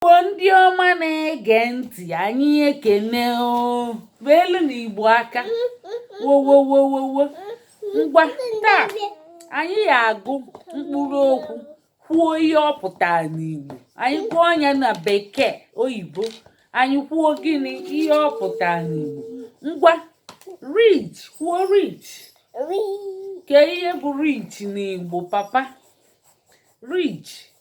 igbo ndị ọma na-ege ntị anyị ekene elu na igbo aka wowowowowo ngwa taa anyị ya-agụ mkpụrụ okwu kwuo ihe ọ pụtara n'igbo anyị kwuo nya na bekee oyibo anyị kwuo gịnị ihe ọ pụtara n'igbo ngwa rich kwuo rich kee ihe bụ rich n'igbo papa rich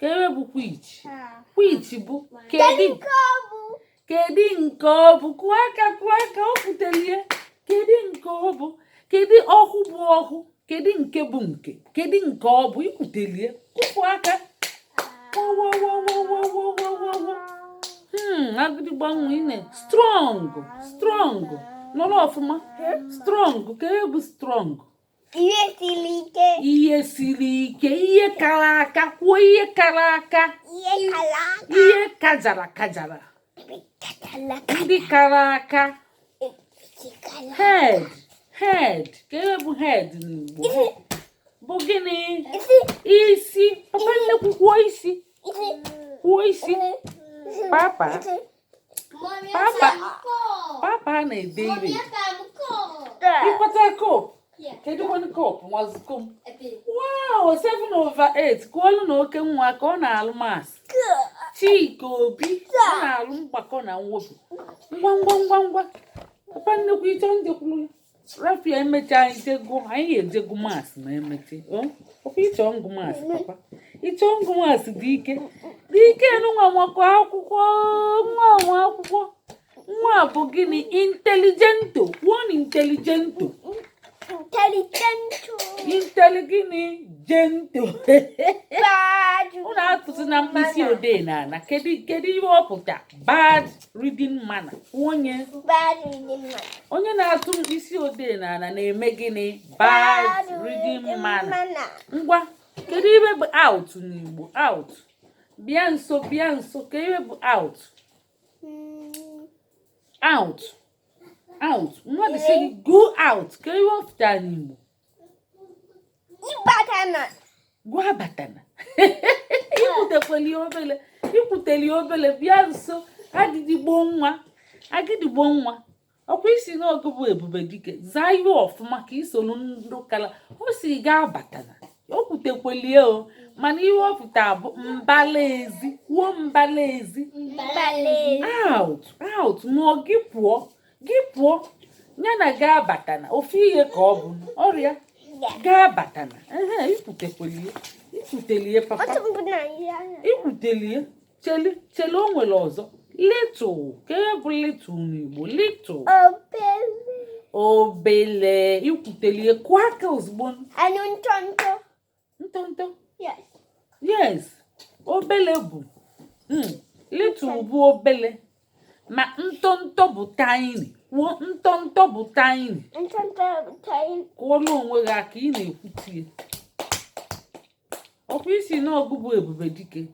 kee ihe bụ which which bụ kedu kedu nke ọ bụ kụọ aka kụọ aka ọ pụtara kedu nke ọ bụ kedu ọhụ bụ ọhụ kedu nke bụ nke kedu nke ọ bụ i kwutelie kụpụ aka hmm, agịdịgbo nwa ine strong strong nọrọ ọfụma strong kee ihe bụ strong ihe siri ike ihe siri ike ihe kara aka kwuo ihe kara aka ihe kara aka ihe kajara kajara ndị kara aka head head kee ihe bụ head n'Igbo bụ gịnị isi papa nnekwu isi kwuo isi papa Papa, papa na-ede ire. Ịkpata kopu. Kedu kwanu kopu nwazuko m? Wow, 7 over 8 kwuolu na oke nwa ka ọ na-alụ maths. Chike Obi ọ na-alụ mgbakọ na mwepụ. Ngwa ngwa ngwa ngwa. Papa nnekwu ị chọ njekwuru ya. rafia emecha anyị jego anyị ga-eje gụọ maths ma emecha ọ kwa ị chọ ịgụ maths papa ị chọ ịgụ maths dị ike dị ike nwa maka akwụkwọ nwa nwa akwụkwọ nwa bụ gịnị intelligent one intelligent Intelligent. intelli gịnị gent Bad. unu atụzina mkpịsị odee n'ana kedu kedu ihe ọ pụta bad reading manner onye onye na-atụ mkpịsị odee n'ala na-eme gịnị bad reading manner ngwa kedu ihe bụ out n'igbo out bịa nso bịa nso kee ihe bụ out hmm. out out mmadụ sị go out kee ihe ọ pụta n'igbo gwa abatana i kwutekweli obele i kwuteli obele bịa nso agịdịgbo nwa agịdịgbo nwa ọ kwa ị sị na ọ gị bụ ebube dike zaa ihe ọfụma ka i soro ndụ kala ọ sị gị abatana o kwutekwelie o mana ihe ọ pụta bụ mbala ezi kwuo mbala ezi out out ma ọ gị pụọ gị pụọ ya na gị abatana ofu ihe ka ọ bụ ọrịa gị abatana ehe ikwutekwelie ikwutelie papa Otu mbụ na ihe anya. ikwutelie chele chele o nwere ọzọ little kee ihe bụ little n'igbo little Obere. obele ikwutelie kụọ aka ozugbo Anụ ntọntọ. ntọntọ yes obele bụ hmm, little bụ obele ma ntọntọ bụ tiny kwuo ntọntọ bụ tiny kụọlụ onwe gị aka ị na-ekwutie ọkwa ị sị na ọ gị bụ ebube dike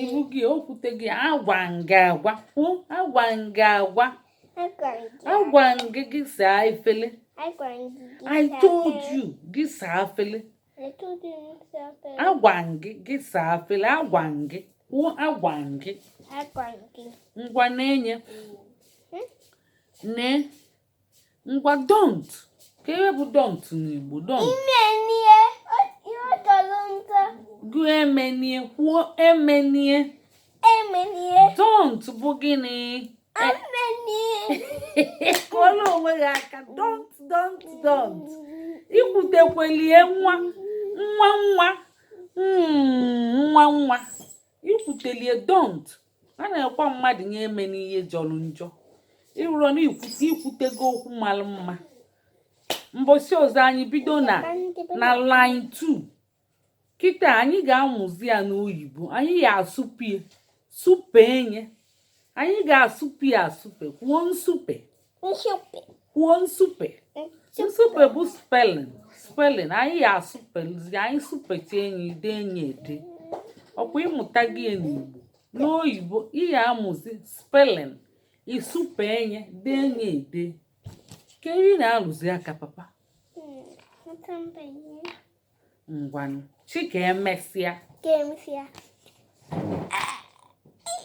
ị bụ gị okwute gị agwa m gị agwa agwa m gị agwa agwa m gị gị saa efele I told you gị saa efele agwa m gị gị saa efele agwa m gị kwuo agwa m gị ngwa nee nye hmm? ne ngwa don't kee ihe bụ don't n'igbo don't Emenie, o- ihe ọ chọrọ nta. gụ emenie kwuo emenie Emenie, don't bụ gịnị emenie. kụọlụ onwe gị aka don't don't don't ikwutekwelie nwa nwa nwa mm, nwa nwa ikwutelie don't a na-ekwu mmadụ nye emene ihe jọlụ njọ ị hụrụ na ikwutego okwu mara mma mbọsị ọzọ anyị bido na line 2 kịta anyị ga-amụzi ya n'oyibo anyị ga-asụpie sụpee nye anyị ga-asụpie asụpe kwuo nsupe Nsupe. Kwuo nsupe. Nsupe bụ spelling. Spelling anyị ya asụpelizi anyị sụpecha nye i dee nye ede. Ọkwa ị mụtago ye n'Igbo n'oyibo ị ya-amụzi spelling ị sụpee nye dee nye ede. Kee ihe ị na-alụzi aka papa. Hmm, Ngwanụ. Sị ka emesịa. Ka emesịa.